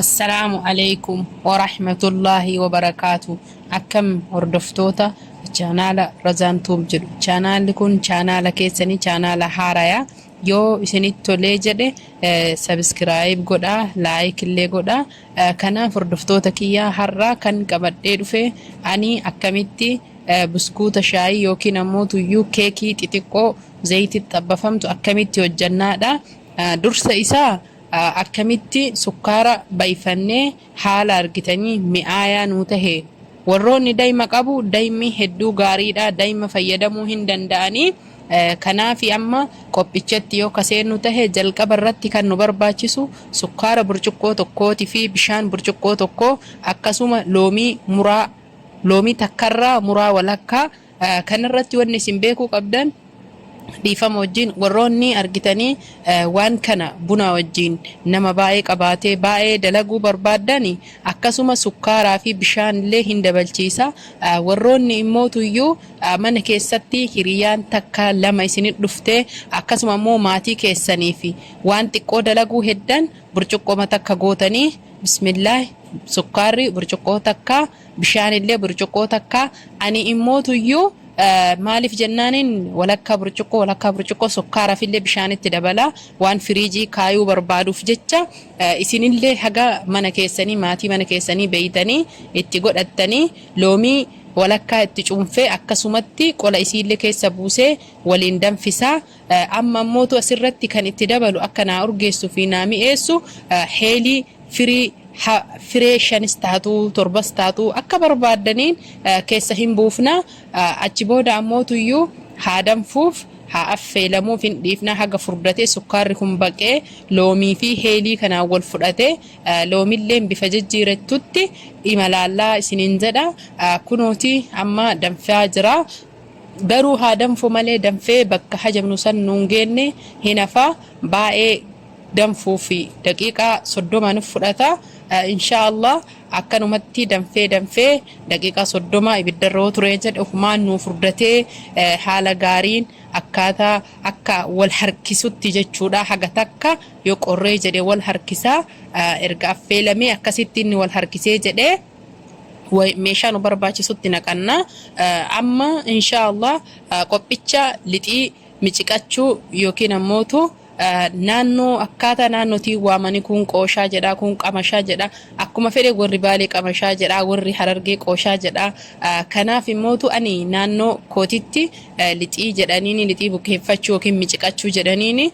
Assalaamu aleykum warahmatullaahi wabarakaatu akkam hordoftoota chaanaala Razaan Tuub jedhu chaanaalli kun chaanaala keessanii chaanaala haaraya yoo isinitti tolee jedhe sabiskiraayib godhaa laayik illee godhaa Eh, kanaaf hordoftoota kiyyaa har'aa kan qabadhee dhufe ani akkamitti eh, buskuuta shaayii yookiin ammoo tuyyuu keekii xixiqqoo zayititti xabbafamtu akkamitti hojjannaadha Eh, dursa isaa Akkamitti sukkaara bayfannee haala argitanii mi'aayaa nuu tahe? Warroonni dayma qabu daymi hedduu gaariidha dayma fayyadamuu hin danda'anii kanaafi amma qophichatti yoo ka seennu tahe jalqaba irratti kan nu barbaachisu sukkaara burcuqqoo tokkooti fi bishaan burcuqqoo tokkoo akkasuma loomii muraa loomii takkarraa muraa walakkaa Kana irratti wanni isin beekuu qabdan dhiifama wajjin warroonni argitanii waan kana bunaa wajjin nama baay'ee qabaatee baay'ee dalaguu barbaaddan akkasuma sukkaaraa fi bishaan illee hin dabalchiisa. Warroonni immootu iyyuu mana keessatti hiriyaan takka lama isin dhuftee akkasuma immoo maatii keessanii fi waan xiqqoo dalaguu heddan burcuqqoma takka gootanii bismillaahi sukkaarri burcuqqoo takka Bishaanillee burcuqqoo takka ani immootuyyuu maaliif jennaaniin walakkaa burcuqqoo walakkaa burcuqqoo sukkaarafillee bishaanitti dabalaa waan firiijii kaayuu barbaaduuf jecha isinillee haga mana keessanii maatii mana keessanii beeytanii itti godhattanii loomii walakkaa itti cuunfee akkasumatti qola isiillee keessa buusee waliin danfisaa Amma ammootu asirratti kan itti dabalu akka naa urgeessu fi naa mi'eessu Heelii firii ha firee shanis taatu torbas taatu akka barbaaddaniin keessa hin buufna achi booda ammootu iyyuu haa danfuuf haa affeelamuuf hin dhiifna haga furdatee sukkaarri kun baqee loomii fi heelii kanaan wal fudhate loomilleen bifa jijjiirettutti imalaallaa isiniin jedha kunooti amma danfaa jira. Garuu haa danfu malee danfee bakka hajamnu san nun geenne hin hafa baayee danfuufi daqiiqaa soddoma nuf fudhata inshaa allah akkanumatti danfee danfee daqiiqaa soddoma ibiddarra yoo turee jedhe ofumaan nuu furdatee haala gaariin akkaataa akka wal harkisutti jechuudha haga takka yoo qorree jedhe wal harkisa erga affeelamee akkasitti inni wal harkisee jedhee meeshaa nu barbaachisutti naqanna. Amma inshaa Allah qophicha lixii miciqachuu yookiin ammootu naannoo akkaataa naannootiin waamanii kun qooshaa jedha kun qamashaa jedha akkuma fedhe warri baalee qamashaa jedha warri harargee qooshaa jedha kanaaf immootu ani naannoo kootitti lixii jedhaniini lixii bukeeffachuu yookiin miciqachuu jedhaniini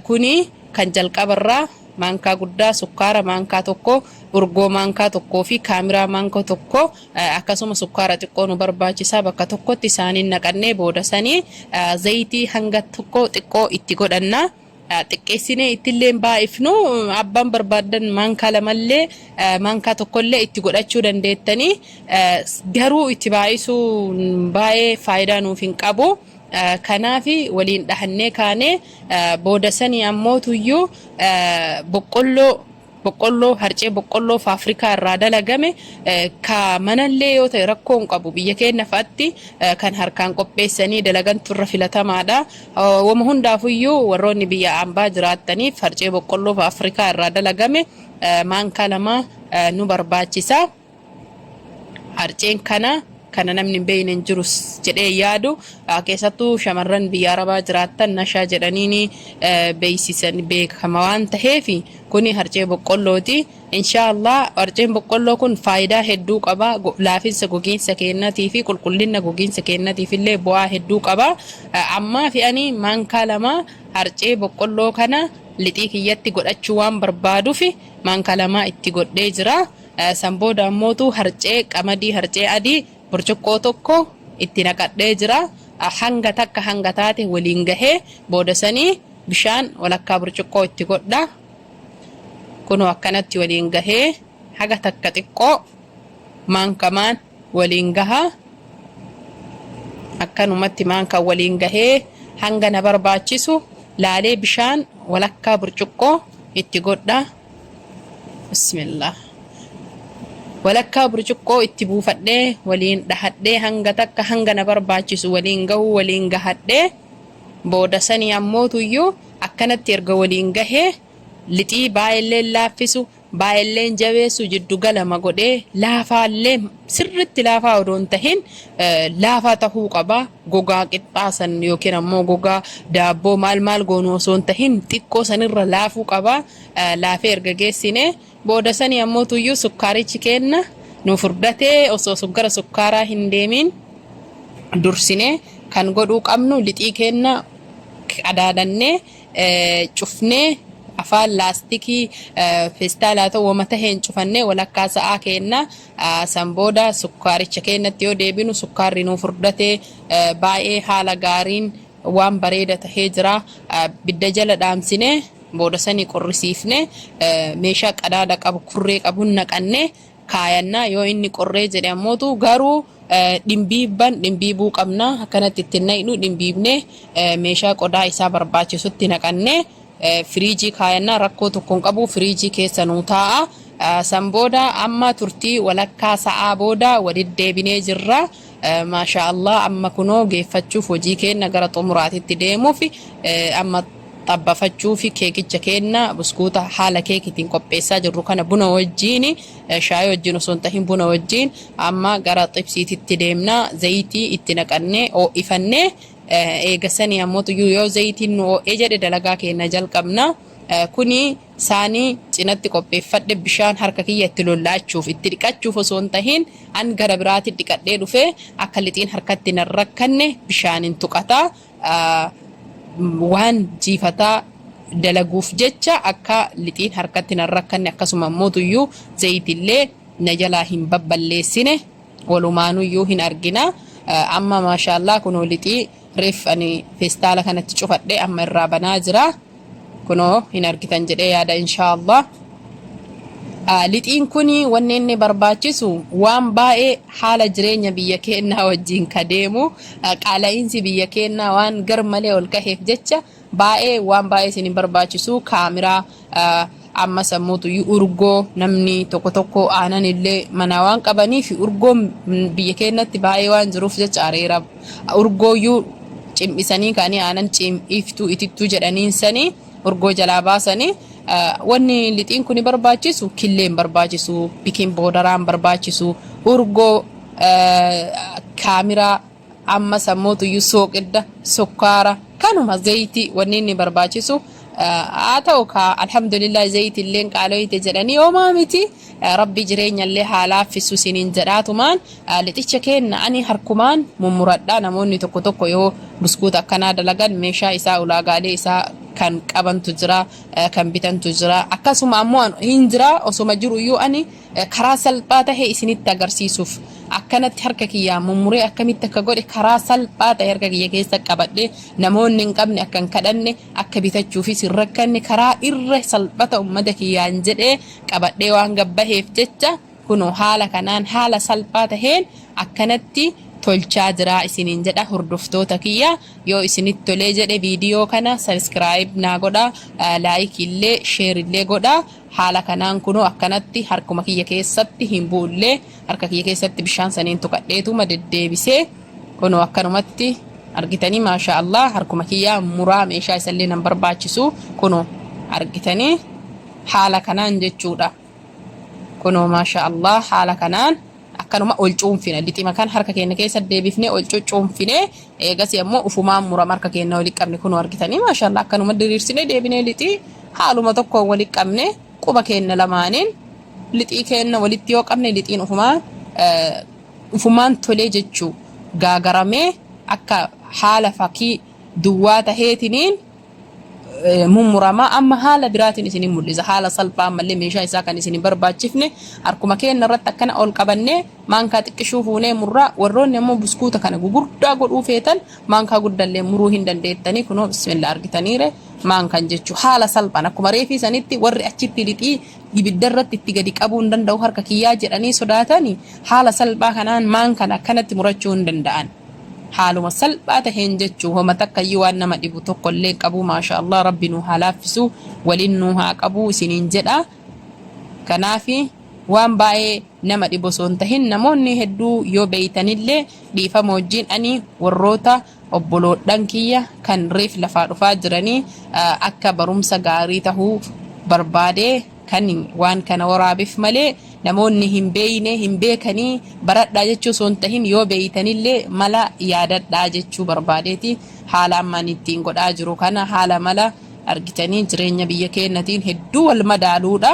kuni kan jalqabarraa maankaa guddaa sukkaara maankaa tokko, urgoo maankaa tokkoo fi kaamiraa maanka tokko akkasuma sukkaara xiqqoo nu barbaachisaa bakka tokkotti isaaniin naqannee booda sanii zayitii hanga tokko xiqqoo itti godhanna. xiqqeessinee ittillee baay'ifnu abbaan barbaaddan maankaa lamallee maankaa tokkollee itti godhachuu dandeettanii garuu itti baay'isuun baay'ee faayidaa nuuf hin qabu. Kanaafi waliin dhahannee kaane. Booda sanii ammootuyyuu boqqolloo boqqolloo harcee boqqolloo faafrikaa irraa dalagame ka manallee yoo ta'e rakkoo hin qabu biyya keenya fa'atti kan harkaan qopheessanii dalagantu irra filatamaadha. Wama hundaafuyyuu warroonni biyya ambaa jiraattaniif harcee boqqolloo faafrikaa irraa dalagame maankaa lama nu barbaachisa. Harceen kana kana namni hin beekne hin jirus jedhee yaadu keessattuu shamarran biyya arabaa jiraattan nashaa jedhaniin beeksisan beekama waan ta'eef kuni harcee boqqollooti. Inshaallah harceen boqqolloo kun faayidaa hedduu qaba laafinsa gogiinsa keenyatii fi qulqullina gogiinsa keenyatiif illee bu'aa hedduu qaba. Ammaa fi ani maankaa lama harcee boqqolloo kana lixii kiyyatti godhachuu waan barbaaduuf maankaa lama itti godhee jira. San booda ammootu harcee qamadii harcee adii burcuqqoo tokko itti naqadhee jira. Hanga takka hanga taate waliin gahee booda sanii bishaan walakkaa burcuqqoo itti godha. Kunoo akkanatti waliin gahee haga takka xiqqoo maankamaan waliin gaha. Akkanumatti maankaan waliin gahee hanga na barbaachisu laalee bishaan walakkaa burcuqqoo itti godha. Bismillah. Walakkaa burcuqqoo itti buufadhee waliin dhahadhee hanga takka hanga na barbaachisu waliin gahuu waliin gahadhee booda sanii ammootuyyuu akkanatti erga waliin gahee lixii baay'illeen laaffisu baay'illeen jabeessu jiddu galama godhee laafaallee sirriitti laafaa odoo hin tahin laafaa tahuu qaba. Gogaa qixxaa san yookiin ammoo gogaa daabboo maal maal goonu osoo hin tahin xiqqoo sanirra laafuu qaba. Laafee erga geessine booda sanii ammoo tuyyuu sukkaarichi keenna nu furdatee osoo gara sukkaaraa hin deemiin dursine kan godhuu qabnu lixii keenna qadaadannee cufnee afaan laastikii feestaalaa ta'u wama taheen cufannee walakkaa sa'aa keenna San booda sukkaaricha keenyatti yoo deebinu sukkaarri nuu furdate baay'ee haala gaariin waan bareeda tahee jira. Bidda jala dhaamsine booda sanii qorrisiifne meeshaa qadaada qabu kurree qabun naqanne kaayanna yoo inni qorree jedhe ammootu garuu dhimbiibban dhimbiibuu qabna akkanatti itti naqnu dhimbiibne meeshaa qodaa isaa barbaachisutti naqanne Firiijii kaayannaa rakkoo tokko hin qabu firiijii keessa nuu taa'a. San booda amma turtii walakkaa sa'aa booda waliddeebinee jirra. Maashaa Allah amma kunoo geeffachuuf hojii keenna gara xumuraatitti deemuuf amma xabbafachuuf keekicha keenna buskuuta haala keekitiin qopheessaa jirru kana buna wajjiin shaayii wajjiin osoo hin tahin buna wajjiin amma gara xibsiititti deemna zayitii itti naqannee oo'ifannee Eega sanii ammoo xuyyuu yoo zayitiin nu oo'e jedhe dalagaa keenna jalqabna. Kuni saanii cinatti qopheeffadhe bishaan harka kiyya itti lolla'achuuf, itti dhiqachuuf osoo hin tahin an gara biraatin dhiqadhee dhufee akka lixiin harkatti na hin rakkanne bishaanin tuqata. Waan jiifataa dalaguuf jecha akka lixiin harkatti na hin rakkanne akkasuma ammoo xuyyuu zayitillee na jalaa hin babballeessine. Walumaanuyyuu hin argina. Amma maashaallah kunoo lixii reef ani feestaala kanatti cufadhe amma irraa banaa jira. Kunoo hin argitan jedhee yaada inshaallah. Lixiin kun wanni inni barbaachisu waan baay'ee haala jireenya biyya keennaa wajjin ka deemu qaala'iinsi biyya keennaa waan gar malee ol kaheef jecha Baayee waan baayee isin hin barbaachisu kaamiraa amma sammuutu urgoo namni tokko tokko aanan illee manaa waan qabanii fi urgoon biyya keenyatti baayee waan jiruuf jecha areera urgooyyuu cimdhisanii kaanii aanan cimdhiiftuu itittuu jedhaniin sanii urgoo jalaa baasanii wanni lixiin kun barbaachisu killee hin barbaachisu bikin boodaraan barbaachisu urgoo kaamiraa Amma sammuutu iyyuu sooqidda, sukkaara, kanuma zayitii wanni inni barbaachisu haa ta'u kaa alhamdulillah zayitii illee qaalooyte jedhanii homaa miti rabbi jireenya illee haa laaffisu isiniin jedhaatumaan lixicha keenna ani harkumaan mummuradhaa namoonni tokko tokko yoo buskuuta akkanaa dalagan meeshaa isaa ulaagaalee isaa kan qabantu jira kan bitantu jira akkasuma ammoo hin jira osoma jiru iyyuu ani Karaa salphaa tahe isinitti agarsiisuuf akkanatti harka kiyyaa mummuree akkamitti akka godhe karaa salphaa tahe harka kiyya keessa qabadhee namoonni hin qabne akka hin kadhanne akka bitachuufis hin rakkanne karaa irra salphata ummata kiyyaan jedhee qabadhee waan gabbaheef jecha kunoo haala kanaan haala salphaa taheen akkanatti tolchaa jiraa isiniin jedha hordoftoota kiyya yoo isinitti tolee jedhe viidiyoo kana sabiskiraayib naa godha laayik illee sheer illee godha Haala kanaan kunoo akkanatti harkuma kiyya keessatti hin bu'ullee harka kiyya keessatti bishaan saniin tuqadheetuma deddeebisee kunoo akkanumatti argitanii maashaa Allah harkuma kiyya muraa meeshaa isallee nan barbaachisu kunoo argitanii haala kanaan jechuudha. Kunoo maashaa Allah haala kanaan. Akkanuma ol cuunfina. Lixima kan harka keenya keessa deebifnee ol cuccuunfine eegasii ammoo ufumaan murama harka keenya walitti qabne kunoo argitanii maashaallah akkanuma diriirsinee deebinee lixii haaluma tokkoon walitti qabne quba keenya lamaaniin lixii keenya walitti yoo qabne lixiin ufumaan ufumaan tolee jechuu gaagaramee akka haala fakii duwwaa taheetiniin eh, mummuramaa amma haala biraatiin isinin mul'isa haala salphaa ammallee meeshaa isaa kan isin hin barbaachifne harkuma keenya irratti akkana ol qabannee maankaa xiqqishuu fuunee murraa warroonni ammoo buskuuta kana gugurdaa godhuu feetan maankaa guddallee muruu hin dandeettanii kunoo bismillah argitaniire maankaan jechuu haala salphaan akkuma reefii sanitti warri achitti lixii ibidda irratti itti gadi qabuu hin danda'u harka kiyyaa jedhanii sodaatanii haala salphaa kanaan maankaan akkanatti murachuu hin danda'an. Haaluma salphaa taheen jechuu homa takkayyuu waan nama dhibu tokko illee hin qabu maashaallah rabbi nuu haa laaffisu waliin nuu haa qabu isiniin jedha kanaafi waan baayee nama dhibu osoo hin tahin namoonni hedduu yoo beeytanillee dhiifama wajjiin ani warroota obboloodhan kiyya kan reef lafaa dhufaa jiranii akka barumsa gaarii tahuu barbaade Kan waan kana waraabef malee namoonni hin beeyne, hin beekanii baradhaa jechuu osoo hin tahin yoo beeytanillee mala yaadadhaa jechuu barbaadeeti. Haala amma ani ittiin godhaa jiru kana haala mala argitanii jireenya biyya keennatiin hedduu wal madaaluudha.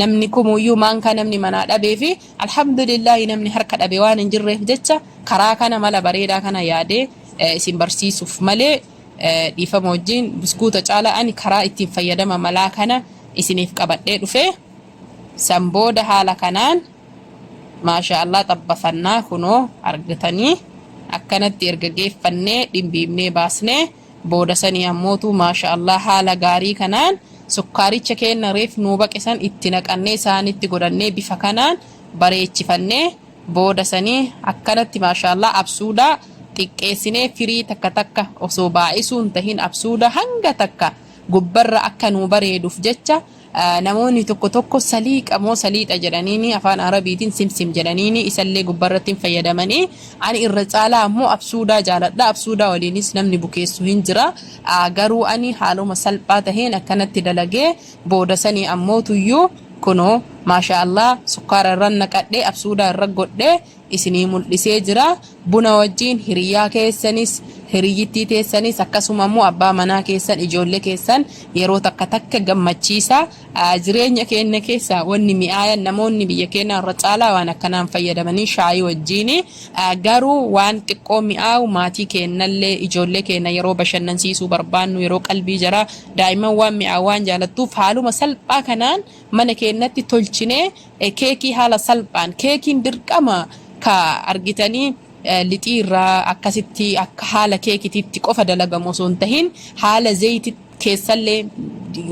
Namni kumuuyyuu maankaa namni manaa dhabee fi alhamdulillaahi namni harka dhabe waan hin jirreef jecha karaa kana mala bareedaa kana yaadee isin barsiisuuf malee Dhiifama wajjiin buskuuta caala ani karaa ittiin fayyadama malaa kana isiniif qabadhee dhufe. San booda haala kanaan maashaa Allah xabbafannaa kunoo argitanii akkanatti erga geeffannee dhimbiibnee baasnee booda sanii ammootu maashaa Allah haala gaarii kanaan sukkaaricha keenna reef nuu baqe san itti naqannee saanitti godhannee bifa kanaan bareechifannee Booda sanii akkanatti maashaallah absuuda xiqqeessinee firii takka takka osoo baay'isuu hin tahin absuuda hanga takka gubbarra akka nuu bareeduuf jecha namoonni tokko tokko saliiqa moo saliixa jedhaniini afaan arabiitiin simsim jedhaniini isallee gubbarratti hin fayyadamanii ani irra caalaa ammoo absuudaa jaaladha absuudaa waliinis namni bukeessu hin jira garuu ani haaluma salphaa taheen akkanatti dalagee booda sanii ammoo tuyyuu kunoo maashaa allaah sukkaara irra naqadhee absuudaa irra godhee isinii muldhisee jira buna wajjiin hiriyyaa keessanis hiriyyittii teessanis akkasuma ammoo abbaa manaa keessan ijoollee keessan yeroo takka takka gammachiisaa jireenya keenya keessaa wanni mi'aayan namoonni biyya keenyaa irra caalaa waan akkanaan fayyadamanii shaayii wajjiini garuu waan xiqqoo mi'aawu maatii keennallee ijoollee keenya yeroo bashannansiisuu barbaannu yeroo qalbii jaraa Daa'imman waan mi'aawu waan jaalattuuf haaluma salphaa kanaan mana keennatti tolchinee keekii haala salphaan keekiin dirqama ka argitanii lixii irraa akkasitti akka haala keekitiitti qofa dalagamu osoo hin tahin haala zeeyti keessallee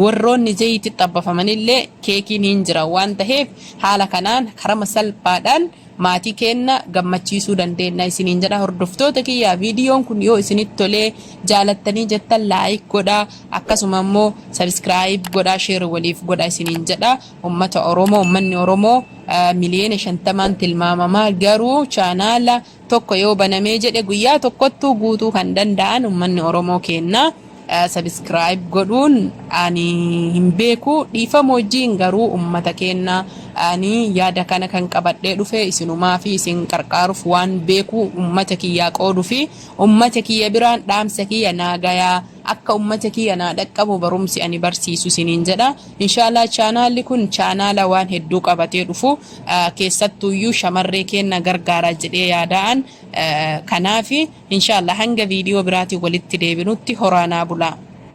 warroonni zeeyti xabbafamanillee keekiin hin jira waan taheef haala kanaan karama salphaadhaan Maatii keenna gammachiisuu dandeenna isiniin jedha. Hordoftoota kiyya viidiyoon kun yoo isinitti tolee jaalattanii jettan laayik godha akkasuma immoo sabiskiraayib godha sheer waliif godha isiniin jedha. Ummata Oromoo ummanni Oromoo miliyoona shantamaan tilmaamama garuu chaanaala tokko yoo banamee jedhe guyyaa tokkottuu guutuu kan danda'an ummanni Oromoo keenna. subscribe godhuun ani hin beeku dhiifama wajjiin garuu ummata keenna ani yaada kana kan qabadhee dhufe isinumaa fi isin qarqaaruuf waan beeku ummata kiyyaa qoodu fi ummata kiyya biraan dhaamsa kiyya naa gayaa akka ummata kiyya naa dhaqqabu barumsi ani barsiisu isiniin jedha inshaallah chaanaalli kun chaanaala waan hedduu qabatee dhufu keessattuuyyuu shamarree keenna gargaaraa jedhee yaadaan Kanaafi, inshallah hanga video biraatiin walitti deebinutti horaa naa bulaa.